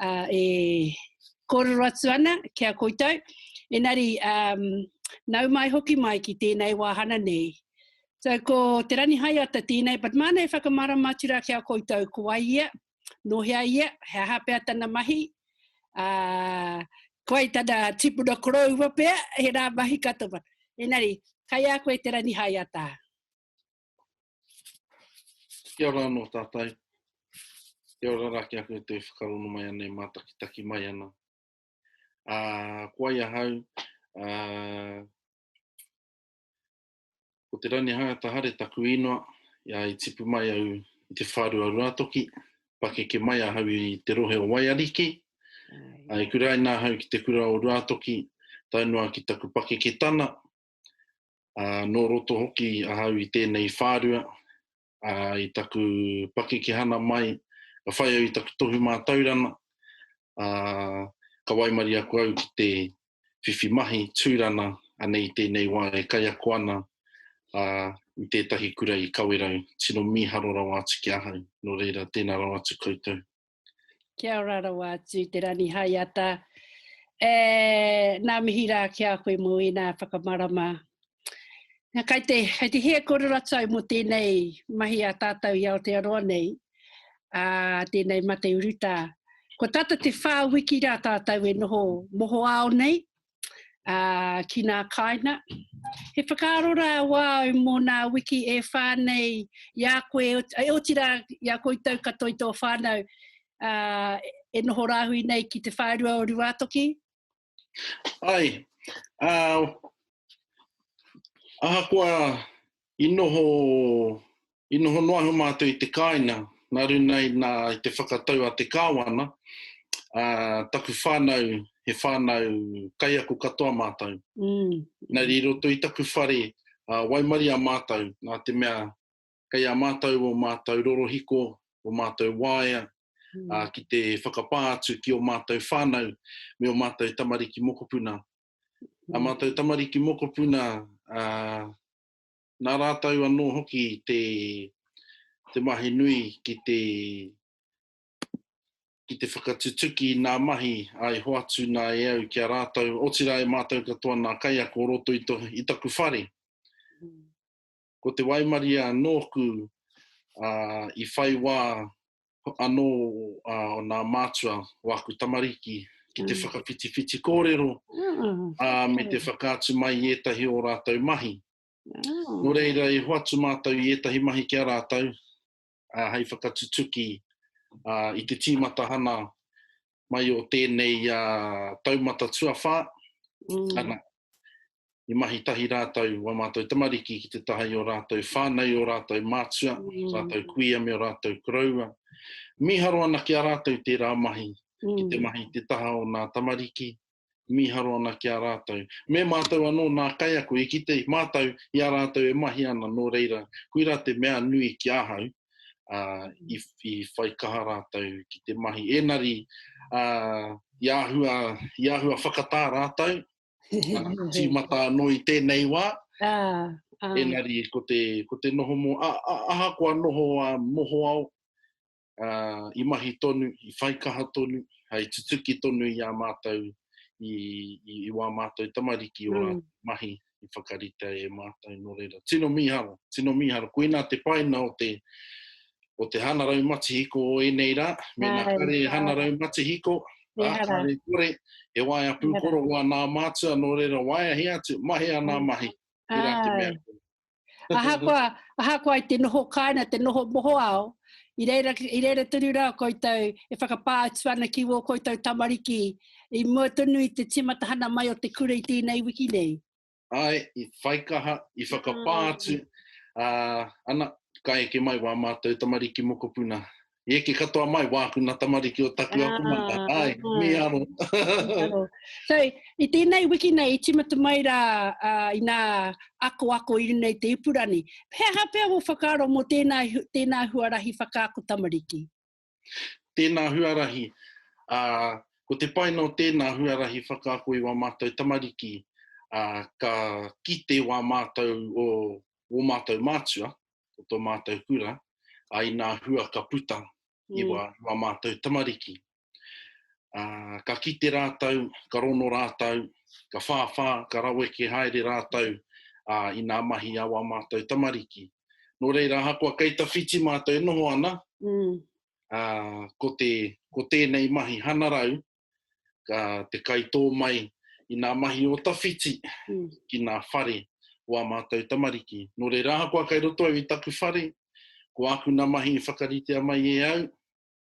uh, e kōrero atu ana ki a koutou. Enari, um, nau mai hoki mai ki tēnei wāhana nei. So ko Te Ranihaiata tēnei, but māna e whakamarama atu rā ki a koutou, ko ai ia, no hea ia, he aha pea tana mahi, uh, ko ai tana tipuna koroua pea, he rā mahi katoa. Enari, kai a koe Te Ranihaiata. Kia ora anō tātai. Kia ora rā ki aku e tui whakarono mai ana, e mātakitaki mai ana. Ā, ko ai ahau, ā, ko te Rangihaeata Hare taku īnoa, ia i tipu mai au i te whārua Ruatoki, pakeke mai ahau i te rohe o Waiariki, ā, i kuraina ahau ki te kura o Ruatoki, tae noa ki taku pakeke tana, Uh, nō roto hoki ahau i tēnei whārua, uh, i taku pakekehana mai, ka whai au i taku tohu mātaurana, uh, ka waimari aku au ki te whiwhi mahi tūrana anei tēnei wā e kai ako ana uh, i tētahi kura i Kawerau. Tino mīharo rawa atu ki ahau, nō reira tēnā rawa atu koutou. Kia ora rawa atu te Rani Haiata. E, nā mihi rā ki a koe mō ēnā whakamarama. Nā, kai te, kai te hea kore ratou mō tēnei mahi a tātou i Aotearoa nei, a tēnei mate urutā. Ko tata te whā wiki rā tātou e noho mohoao nei, ā, ki nā kāinga. He whakaaro rā au au mō nā wiki e whā nei i a koe, e oti rā i a koutou katoa i tō whānau, ā, e noho rāhui nei ki te whārua o Ruātoki. Āe, ā, ahakoa I noho, i noho noa ahu mātou i te kāinga, nā runga i nā, i te whakatau a te Kāwana, ā, taku whānau, he whānau kaiako katoa mātou. Engari i roto i taku whare, ā, waimaria mātou, nā te mea, kei a mātou ō mātou rorohiko, ō mātou waea, ā, ki te whakapā atu ki ō mātou whānau me ō mātou tamariki mokopuna. Ā mātou tamariki mokopuna, ā, nā rātou anō hoki te, te mahi nui ki te, ki te whakatutuki i nā mahi ā i hoatu nā e au ki a rātou, otirā e mātou katoa nā kaiako o roto i to, i taku whare. ko te waimarie anō kū ā, i whai wā anō ā, o nā mātua o aku tamariki ki te whakawhitiwhiti kōrero ā, me te whakaatu mai i ētahi o ō rātou mahi. Nō reira, i hoatu mātou i ētahi mahi ki a rātou, uh, hei whakatutuki uh, i te tīmatahana mai o tēnei uh, taumata tuawhā. Mm. Ana, i mahi tahi rātou wa mātou tamariki ki te taha i o rātou whānau, o rātou mātua, mm. rātou kuia me o rātou koroua. Miharo ana ki a rātou tērā mahi, mm. ki te mm. mahi te taha o nā tamariki, mīharo ana ki a rātou. Me mātou anō nā kaiako i kite mātou i a rātou e mahi ana nō reira, koirā te mea nui ki ahau, ā, i, i whai kaha rātou ki te mahi. Ēnari, ā, i āhua, i āhua whakatā rātou, ā, tīmata anō i tēnei wā, ā, ēnari ko te, ko te noho mō, ā, ā, ahakoa noho ā, mohoao, uh, i mahi tonu, i whaikaha tonu, hai tutuki tonu i a mātou, i, i, i wā mātou tamariki o mm. mahi i whakarita e mātou no reira. Tino miharo, tino miharo. Koina te paina o te, o te hanarau matihiko o enei rā, mena kare hanarau matihiko, Ākare kore, he waia pūkoro wā nā mātua, nō reira waia he atu, mahi a nā mahi, tērā te mea. Ahakoa, ahakoa i te noho kāinga, te noho mohoao, i reira, i reira tonu rā koutou e whakapā atu ana ki wō koutou tamariki i mua tonu i te tīmatahana mai o te kura i tēnei wiki nei. Āe, i whaikaha, i whakapā atu, ā, ana, ka eke mai wā mātou tamariki mokopuna I eke katoa mai, wāku nā tamariki o taku akomanga. Ah, Ai, ah. me aro. Aro. So, i tēnei wiki nei, i timata mai rā uh, i nā ako ako i runei te ipurani. He aha pea wō whakaaro mō tēnā, tēnā huarahi whakaako tamariki? Tēnā huarahi. Uh, ko te paina o tēnā huarahi whakaako i wā mātou tamariki, uh, ka kite wā mātou o wō mātou mātua, o tō mātou kura, a inā hua ka puta i wā, mm. wā mātou tamariki. A, ka kite rātou, ka rono rātou, ka whāwhā, ka rawe ke haere rātou a, i nā mahi a wā mātou tamariki. Nō reira, ahakoa kei tawhiti mātou e noho ana, mm. a, ko, te, ko tēnei mahi hanarau, ka te kaitō mai i nā mahi o tawhiti ki nā whare o ā mātou tamariki. Nō reira ahakoa kei roto au i taku whare, ko āku nā mahi i whakaritea mai e au,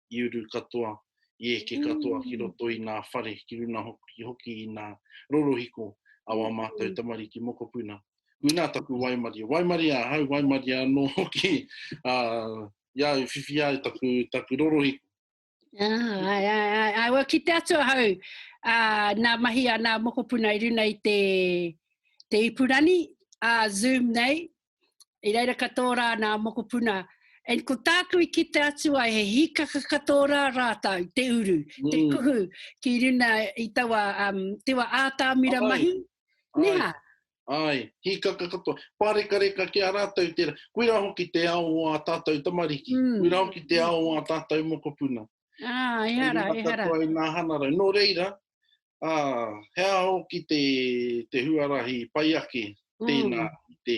i uru katoa, i eke katoa ki roto i nā whare, ki runga hoki i nā rorohiko a wā mātou tamariki mokopuna. Koinā taku waimarie. Waimarie ahau, waimarie anō hoki, ā, i a au i whiwhi ai taku rorohiko. Ah, ai, ai, ai, ai. Well, ki te atu ahau, uh, nā mahi a nā mokopuna i runa i te, te ipurani, a uh, Zoom nei, i reira ka tōrā nā mokopuna. And ko tāku i ki te atu ai, he hikaka ka tōrā rātau, te uru, mm. te kuhu, ki runa i taua um, tewa ātāmira mahi. Neha, Āe, hīkaka katoa. Pārekareka ki a rātou tērā. Koirā hoki te ao o ā tātou tamariki. Koirā hoki te ao o ā tātou mokopuna. Ā, ehara, ehara. Kei runga katoa i ngā hangarau. Nō reira, ā, he aha hoki te, te huarahi pai ake tēnā i te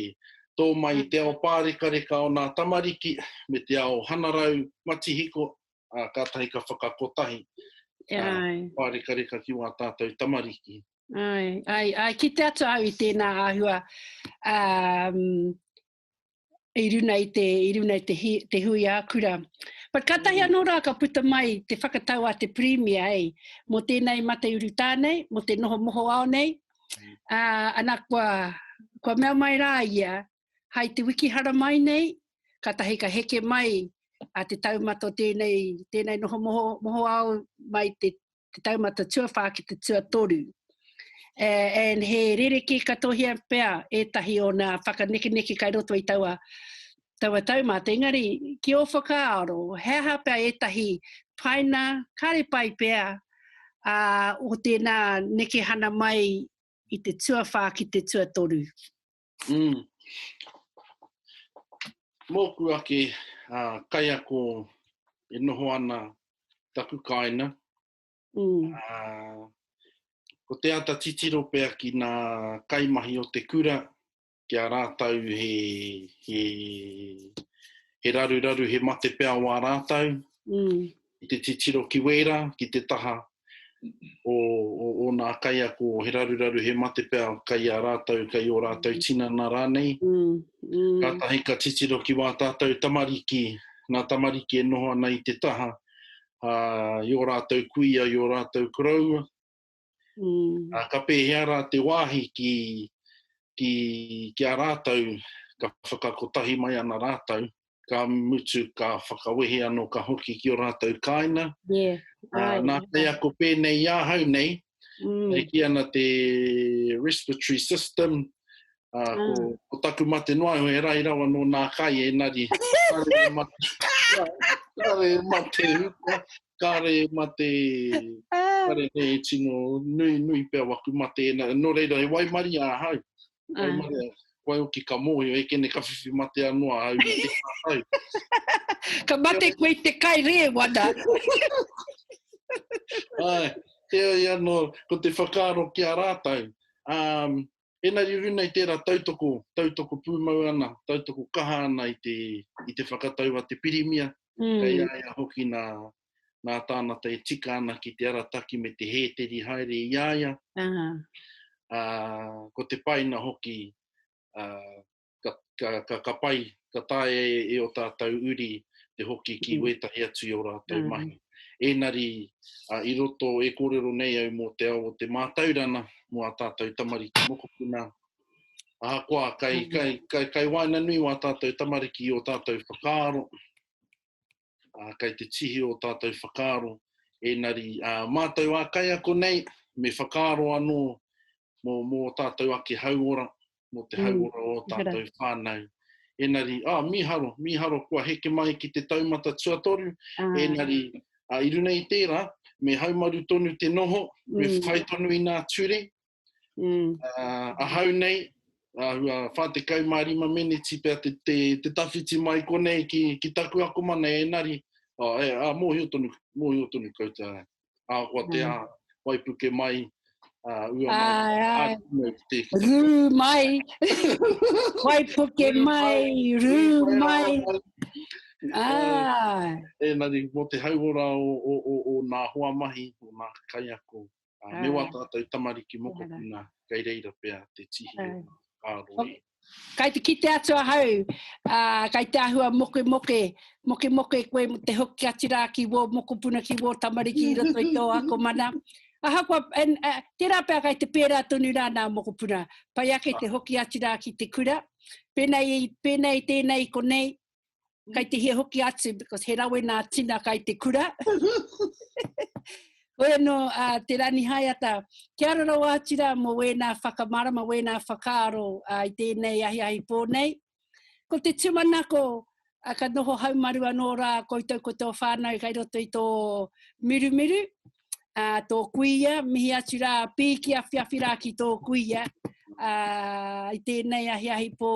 tō mai i te ao pārekareka o ngā tamariki me te ao hangarau matihiko, ā, kātahi ka whakakotahi, ā, pārekareka ki wā tātou tamariki. Ai, ai, ai, ki te atu au i tēnā āhua um, i runa i te, i runa i te, hi, te hui ākura. But ka tahi mm. anō rā ka puta mai te whakatau a te Premier, ei, mō tēnei mate uru tānei, mō te noho moho ao nei, uh, ana kua, kua mea mai rā ia, hai te wiki hara mai nei, ka tahi ka heke mai a te taumata o tēnei, tēnei noho moho, moho ao mai te te taumata tuawhā ki te tuatoru. Uh, and he rereke katohia pea ētahi o nā whakanekeneke kai roto i taua, taua taumata. Engari, ki o whakaaro, he aha pea ētahi paina, kāre pai pea, uh, o tēnā nekehana mai i te tuawhā ki te tuatoru? Mm. Mōku ake uh, kaiako e noho ana taku kāina, mm. uh, ko te ata titiro pea ki nā kaimahi o te kura, ki a rātau he, he, he raruraru, he mate pea wā rātau. Mm. i te titiro ki wēra, ki te taha o, o, o nā kaiako, he raruraru, he mate pea kai a rātou, kai ō rātou tinana rānei. Mm, mm. Kātahi ka titiro ki wā tātou tamariki, nā tamariki e noho ana i te taha, uh, i ō rātou kuia, i ō rātou koroua, Ā, ka pēhea rā te wāhi ki, ki, ki a rātou, ka whakakotahi mai ana rātou, ka mutu, ka whakawehe anō, ka hoki ki ō rātou kāina. Yeah. Ā, nā kaiako pēnei i ahau nei, e kī ana te respiratory system, ā, ko, ko taku mate noa iho e rahi rawa nō nā kai, ēnari, kāore e mate, kāore e mate, kāre e mate, kāre e tino nui, nui pea waku mate, nā, nō reira, he waimarie ahau, waimarie, ah. waihoki ka mōhio, e kene ka whiwhi mate anō ahau, ahau. ka mate koe te kai re, wana. Ai, te ai anō, ko te whakaaro ki a rātou, um, Engari i runa i tērā tautoko, tautoko pūmau ana, tautoko kaha ana i te, i te whakatau a te Pirimia, kei a ia hoki nā, nā tānata e tika ana ki te arataki me te hēteri haere i a ia, ā, ko te painga hoki, ā, ka, ka, ka, ka pai, ka taea e, e o tātou uri te hoki ki mm. wētahi atu i o rātou mm. mahi. Ēnari, a, i roto e kōrero nei au mō te ao o te mātaurana, mō a tātou tamariki mokopuna, ahakoa, kai, mm. kai, kai, kai waina nui wā tātou tamariki o tātou whakaaro, uh, kai te tihi o tātou whakaaro, ēnari uh, mātou ā kaiako nei, me whakaaro anō mō, mō tātou ake hauora, mō te mm. hauora o tātou whānau. Ēnari, ah, mīharo, mīharo kua heke mai ki te taumata tuatoru, ah. ēnari, uh, i runa i tērā, me haumaru tonu te noho, mm. me whai tonu i nā ture, Mm. Uh, ahau nei, ahua 45 meneti pia te, te, te tawhiti mai konei ki, ki taku ako mana e nari. Oh, e, a, mōhio tonu, mōhio tonu koutou. A, kua te mm. a, waipuke mai, uh, ua mai. Ai, ai. Rū mai. waipuke mai, rū mai. Ah. E, e nari, mō te hauora o, o, o, o nā hoa mahi, o nā kaiako, Ā, me wā tātou tamariki mokopuna, kei reira pea te tihi o ngā āroe. Kai te kite atu ahau, ā, kai te āhua mokemoke, mokemoke koe mō te hoki atu rā ki wō mokopuna, ki wō tamariki i roto i tō akomana. Ahakoa, and, ā, tērā pea kai te pērā tonu rā nā mokopuna. Pai ake te hoki atu rā ki te kura. Pēnei, pēnei tēnei i konei, Kai te hia hoki atu, because he rawe nā tina kai te kura. Hoi anō a uh, Te Rani Haiata, kia ara rawa atu rā mō wēnā whakamarama, wēnā whakaaro uh, i tēnei ahi ahi pō nei. Ko te tumanako, a ka noho haumaru anō rā koutou ko tō whānau kai roto i tō mirumiru, a tō kuia, mihi atu rā, pīki awhi awhi rā ki tō kuia, a i tēnei ahi ahi pō